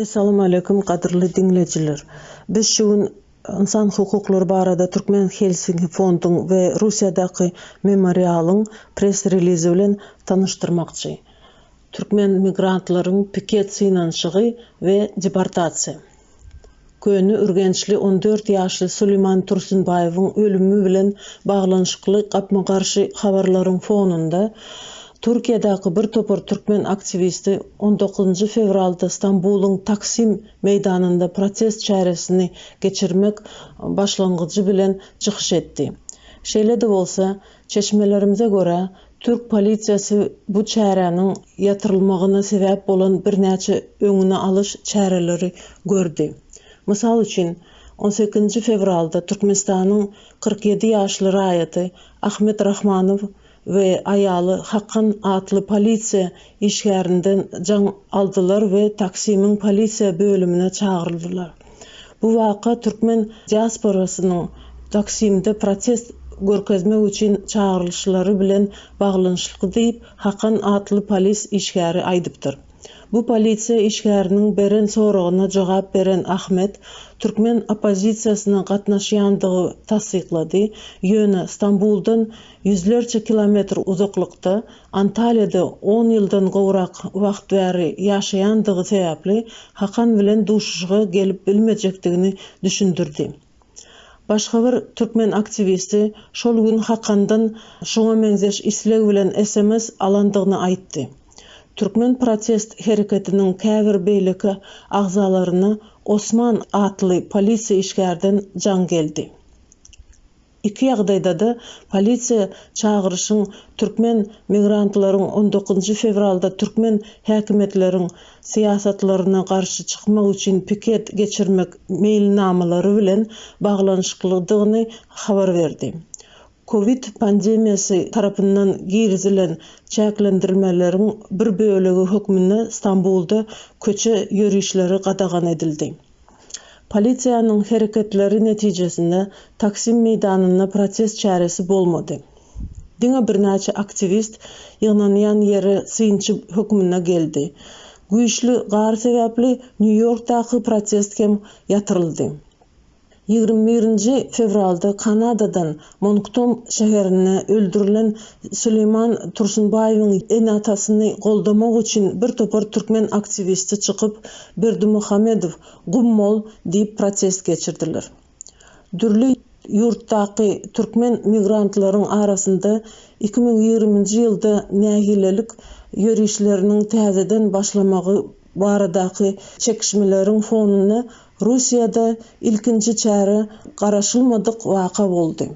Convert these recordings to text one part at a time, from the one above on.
Essalamualeýkum gadyrly diňleýjiler. Biz şu gün ynsan hukuklary barada Türkmen Helsinki fonduň we Russiýadaky Memorialyň press relizi bilen tanyşdyrmakçy. Türkmen migrantlaryň piket synanyşygy we deportasiýa. Köne Ürgençli on dört ýaşly Suliman Tursunbaýewiň ölümi bilen baglanyşykly gapma-garşy habarlaryň fonunda, Türkiýedäki bir topar türkmen aktiwisti on dokuzynjy fewralda Stambulyň Taksim meýdanynda protest çäresini geçirmek başlangyjy bilen çykyş etdi. Şeýle-de bolsa, Çeşmelerimize görä, türk polisiýasy bu çäräniň ýatyrylmagyna sebäp bolan birnäçe öňüni alyş çäreleri gördi. Mysal üçin, on sekizinji fewralda Türkmenistanyň kyrk ýedi ýaşly raýaty Ahmet Rahmanow we aýaly Hakan atly polisiýa işgärinden jaň aldylar we Taksimiň polisiýa bölümine çagyryldylar. Bu waka türkmen diasporasynyň Taksimde protest görkezmek üçin çagyrylyşlary bilen baglanyşykly diýip, Hakan atly polis işgäri aýdypdyr. Bu polisiýa işgäriniň beren soragyna jogap beren Ahmet, türkmen oppozisiýasynyň gatnaşýandygy tassyklady, ýöne Stambuldan Ýüzlerçe kilometr uzaklykda, Antalýada on ýyldan gowrak wagt bäri ýaşaýandygy sebäpli Hakan bilen duşuşyga gelip bilmejekdigini düşündirdi. Başga bir türkmen aktiwisti şol gün Hakandan şuňa meňzeş isleg bilen sms alandygyny aýtdy. Türkmen protest hereketiniň käbir beýleki agzalaryna Osman atly polisiýa işgärden jaň geldi. Iki ýagdaýda-da polisiýa çagyryşyň türkmen migrantlaryň on dokuzynjy fewralda türkmen häkimiýetleriň syýasatlaryna garşy çykmak üçin piket geçirmek meýilnamalary bilen baglanyşyklydygyny habar berdi. Kowid pandemiýasy tarapyndan girizilen çäklendirmeleriň bir bölegi hökmünde Stambulda köçe ýörişleri gadagan edildi. Polisiýanyň hereketleri netijesinde Taksim meýdanynda protest çäresi bolmady. Diňe birnäçe aktiwist ýygnanýan ýere synçy hökmünde geldi. Güýçli gar sebäpli Nýu-Ýorkdaky protest hem ýatyryldy. Ýigrimi birinji fewralda Kanadadan Monkton şäherinde öldürilen Süleýman Tursunbaýewiň ene-atasyny goldamak üçin bir topar türkmen aktiwisti çykyp, Berdimuhamedow, gum bol! diýip protest geçirdiler. Dürli ýurtdaky türkmen migrantlaryň arasynda iki müň ýigriminji ýylda nägilelik ýörişleriniň täzeden başlamagy baradaky çekişmeleriň fonunda Russiýada ilkinji çäre garaşylmadyk waka boldy.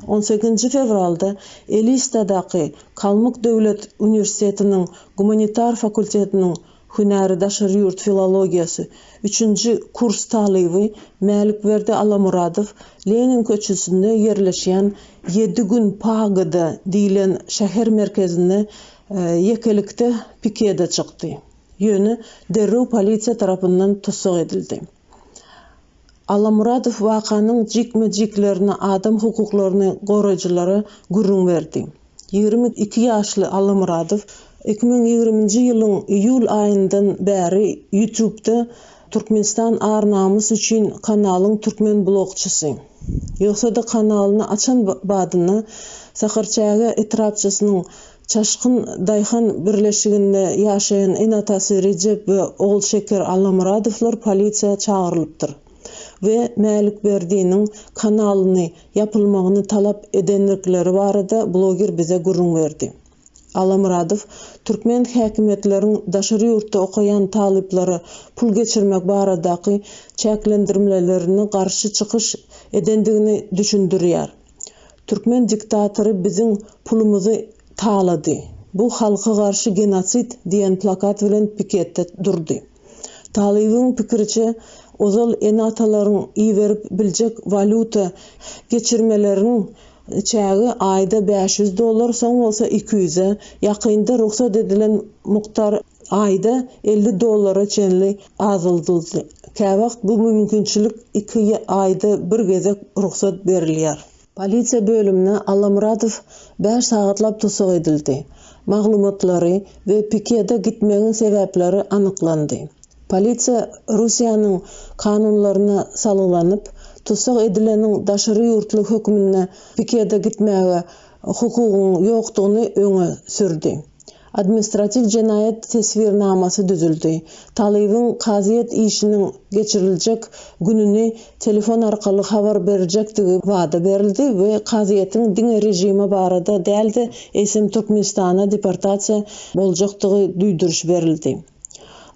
On sekizinji fewralda Elistadaky Kalmyk döwlet uniwersitetiniň gumanitar fakultetiniň hünäri daşary ýurt filologiýasy üçünji kurs talyby Mälikberdi Alamyradow Lenin köçesinde ýerleşýän Ýedi gün pagoda diýlen şäher merkezinde ýekelikde pikede çykdy. Ýöne derrew polisiýa tarapyndan tussag edildi. Allamuradow wakanyň jikme-jiklerini adam hukuklaryny goraýjylara gürrüň berdi. Ýigrimi iki ýaşly Allamuradow iki müň ýigriminji ýylyň iýul aýyndan bäri Ýutubda Türkmenistan ar-namys üçin kanalyň türkmen blogçysy. Ýogsa-da kanalyny açan badynda Sakarçäge etrapçasynyň Çaşgyn daýhan birleşiginde ýaşaýan ene-atasy Rejep we ogul Şeker Allamyradowlar polisiýa çagyrylypdyr we Mälikberdiniň kanalyny ýapylmagyny talap edendikleri barada bloger bize gürrüň berdi. Allamyradow türkmen häkimiýetleriň daşary ýurtda okaýan talyplara pul geçirmek baradaky çäklendirmlelerine garşy çykyş edendigini düşündirýär. Türkmen diktatory biziň pulumyzy talady. Bu halka garşy genosid diýen plakat bilen piketde durdy. Talybyň pikiriçe, ozal ene-atalaryň iberip biljek walýuta geçirmeleriniň çägi aýda bäş ýüz dollar, soň bolsa iki ýüze, ýakynda rugsat edilen mukdar aýda elli dollara çenli azaldyldy. Käwagt bu mümkinçilik iki aýda bir gezek rugsat berilýär. Polisiýa bölümine Allamyradow bäş sagatlap tussag edildi. Maglumatlary we pikede gitmegiň sebäpleri anyklandy. Polisiýa Russiýanyň kanunlaryna salgylanyp, tussag edileniň daşary ýurtly hökmünde pikede gitmäge hukugyň ýokdugyny öňe sürdi. Administratiw jenaýat teswirnamasy düzüldi. Talybyň kazyýet işiniň geçiriljek gününi telefon arkaly habar berjekdigi wada berildi we kazyýetiň diňe režimi barada däl-de, eýsem Türkmenistana deportasiýa boljakdygy duýduryş berildi.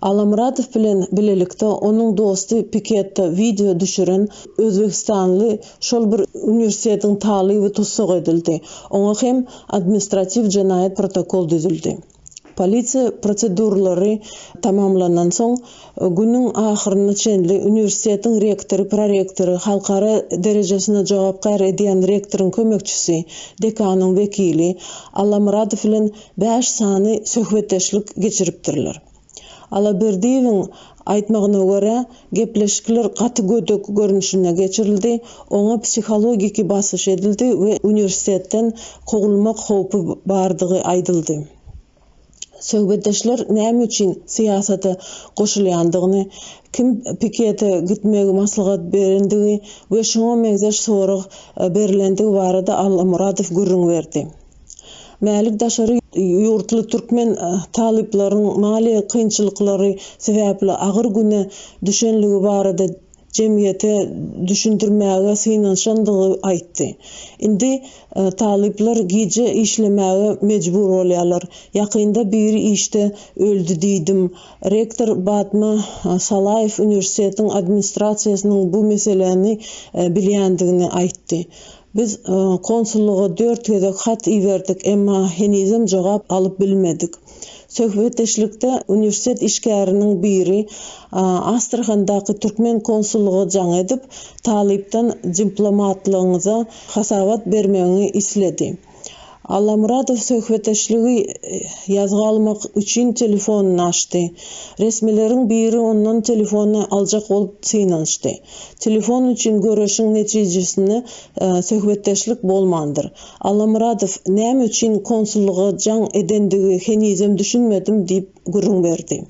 Allamyradow bilen bilelikde onuň dosty piketde wideo düşüren özbegistanly şol bir uniwersitetiň talyby tussag edildi, oňa hem administratiw jenaýat protokol düzüldi. Polisiýa proseduralary tamamlandan soň, günüň ahyryna çenli uniwersitetiň rektory, prorektory, halkara derejesinde jogapkär edýän rektoryň kömekçisi, dekanyň wekili Allamyradow bilen bäş sany söhbetdeşlik geçiripdirler. Alaberdiýewiň aýtmagyna görä, gepleşikler gaty gödek görnüşinde geçirildi, oňa psihologiki basyş edildi we uniwersitetden kowulmak howpy bardygy aýdyldy. Söhbetdeşler näme üçin syýasata goşulýandygyny, kim pikete gitmegi maslahat berendigi we şuňa meňzeş sorag berlendigi barada Allamuradow gürrüň berdi. Mälik daşary ýurtly türkmen talyplaryň maliýe kynçylyklary sebäpli agyr güne düşenligi barada jemgyýete düşündirmäge synanyşandygy aýtdy. Indi talyplar gije işlemäge mejbur bolýarlar. Ýakynda biri işde öldi diýdim. Rektor Batma Salaýew uniwersitetiň administrasiýasynyň bu meseläni bilýändigini aýtdy. Biz konsullyga dört gezek hat iberdik, emma henizem jogap alyp bilmedik. Söhbetdeşlikde uniwersitet işgäriniň biri Astrahandaky türkmen konsullyga jaň edip, talypdan diplomatlygyňyza hasabat bermegiňi isledi. Allamyradow söhbetdeşligi ýazga almak üçin telefonyny açdy. Resmileriň biri ondan telefony aljak bolup synanyşdy. Telefon üçin göreşiň netijesinde söhbetdeşlik bolmandyr. Allamyradow näme üçin konsullyga jaň edendigi henizem düşünmedim diýip gürrüň berdi.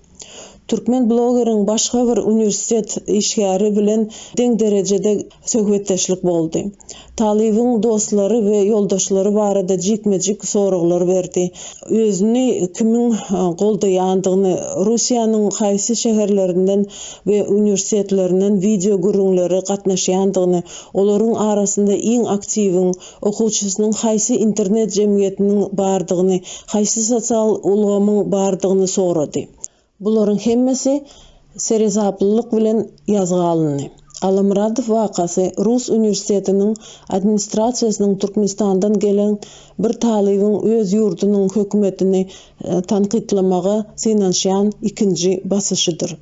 Türkmen blogeriň başga bir uniwersitet işgäri bilen deň derejede söhbetdeşlik boldy. Talybyň dostlary we ýoldaşlary barada jikme-jik soraglar berdi. Özüni kimiň goldaýandygyny, Russiýanyň haýsy şäherlerinden we uniwersitetlerinden wideo gürrüňlere gatnaşýandygyny, olaryň arasynda iň aktiwiň, Okuwçysynyň haýsy internet jemgyýetiniň bardygyny, haýsy sosial ulgamyň bardygyny sorady. Bularyň hemmesi seresaplylyk bilen ýazga alyndy. Allamyradow wakasy rus uniwersitetiniň administrasiýasynyň Türkmenistandan gelen bir talybyň öz ýurdunyň hökümetini tankytlamaga synanyşýan ikinji basyşydyr.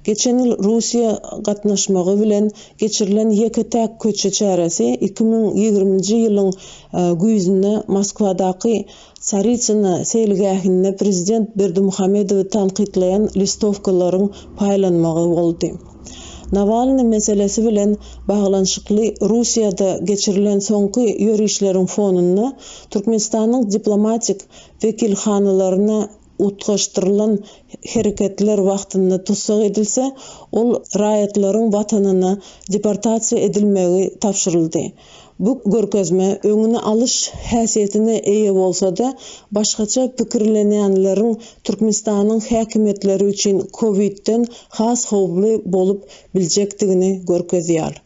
Geçen ýyl Russiýa gatnaşmagy bilen geçirilen ýeke-täk köçe çäresi iki müň ýigriminji ýylyň güýzünde Moskwadaky Tsaritsyna seýilgähinde prezident Berdimuhamedowy tankytlaýan listowkalaryň paýlanmagy boldy. Nawalny meselesi bilen baglanyşykly Russiýada geçirilen soňky ýörişleriň fonunda Türkmenistanyň diplomatik wekilhanalaryna utgaşdyrylan hereketler wagtynda tussag edilse, ol raýatlaryň watanyna deportasiýa edilmegi tabşyryldy. Bu görkezme öňüni alyş häsiýetine eýe bolsa-da, başgaça pikirlenýänleriň Türkmenistanyň häkimiýetleri üçin COVID-den has howply bolup biljekdigini görkezýär.